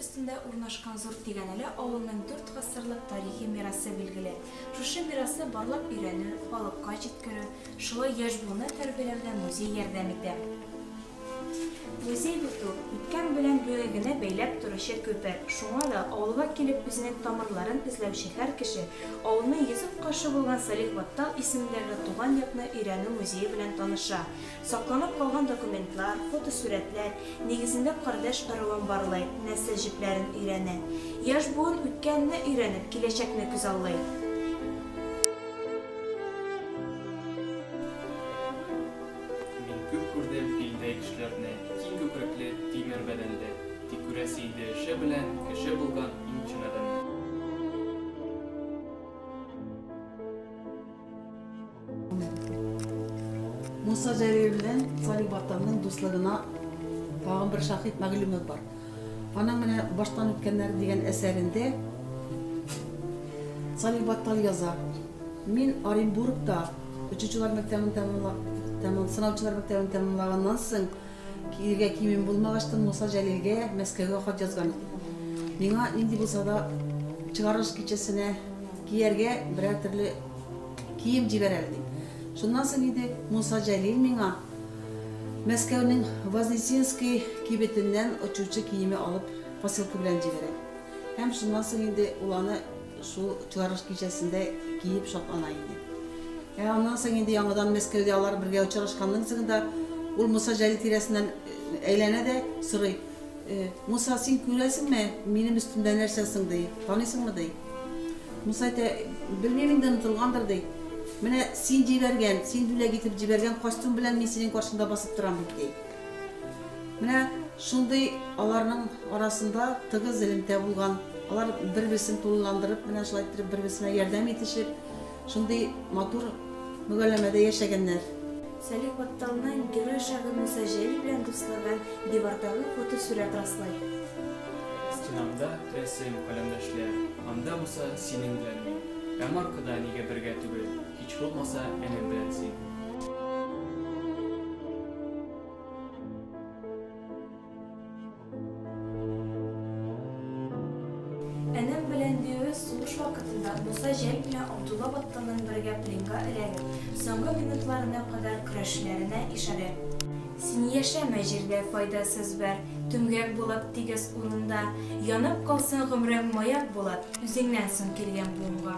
өстендә урнашкан зур тигәнәле авылның дүрт гасырлык тарихи мирасы билгеле. Шушы мирасы барлап өйрәнү, халыкка җиткерү, шулай яшь буынны тәрбияләүдә музей ярдәм итә. Музей бит ул, үткән белән бүгенгене бәйләп торучы күпер. Шуңа да авылга килеп үзенең тамырларын эзләүче һәр кеше авылны йөзеп каршы булган Салих Баттал исемендәге туган якны өйрәнү музее белән таныша, сакланып калган документлар, фотосурәтләр нигезендә кардәш ыруын барлый, нәсел җепләрен өйрәнә. Яшь буын үткәнне өйрәнеп, киләчәкне күзаллый. Мин күп күрдем илдә кешеләрне, киң күкрәкле, тимер бәдәнле, тик күрәсе иде эше белән кеше булган иң чын адәмне. Муса Җәлил белән Салих Батталның дуслыгына тагын бер шаһит Мәгълүмов бар. Аның менә Баштан үткәннәр дигән әсәрендә Салих Баттал яза, Мин Оренбургта Очучылар мәктәбен тәмамлаган, сынаучылар мәктәбен тәмамлаганнан соң, килергә киемем булмагачтын, Муса Җәлилгә Мәскәүгә хат язган идем. Миңа нинди булса да чыгарылыш кичәсенә кияргә берәр төрле кием җибәр әле дип. Шуннан соң инде Муса Җәлил миңа Мәскәүнең Вознесенский кибетеннән очучы киеме алып посылка белән җибәрә. Һәм шуннан соң инде ул аны Шул чыгарылыш кичәсендә киеп шатлана иде. Ә аннан соң инде яңадан Мәскәүдә алар бергә очрашканнан соң да ул Муса Җәлил тирәсеннән әйләнә дә сорый, Муса, син күрәсеңме, минем өстемдә нәрсә соң, ди, таныйсыңмы, ди. Муса әйтә, белмим инде, онытылгандыр, ди. Менә син җибәргән, син бүләк итеп җибәргән костюм белән мин синең каршыңда басып торам бит, ди. Менә шундый аларның арасында тыгыз элемтә булган, алар бер-берсен тулыландырып, менә шулай иттереп бер-берсенә ярдәм итешеп, шундый матур мөгәлләмәдә яшәгәннәр. Сәлих Батталның герой шагыйрь Муса Җәлил белән дуслыгын дивардагы фотосурәт раслый. Стенамда, рәсем, каләмдәшләр, анда булса, синең белән мин. Ә маркада нигә бергә түгел? Һич булмаса, әнем белән син. Әнем белән диюе сугыш вакытында булса җәй көне Абдулла Батталның бергә пленга эләгеп, соңгы минутларына кадәр көрәшүләренә ишарә. Син яшәмә җирдә файдасыз бер Түмгәк булып тигез урында, Янып калсын гомрең маяк булып Үзеңнән соң килгән буынга.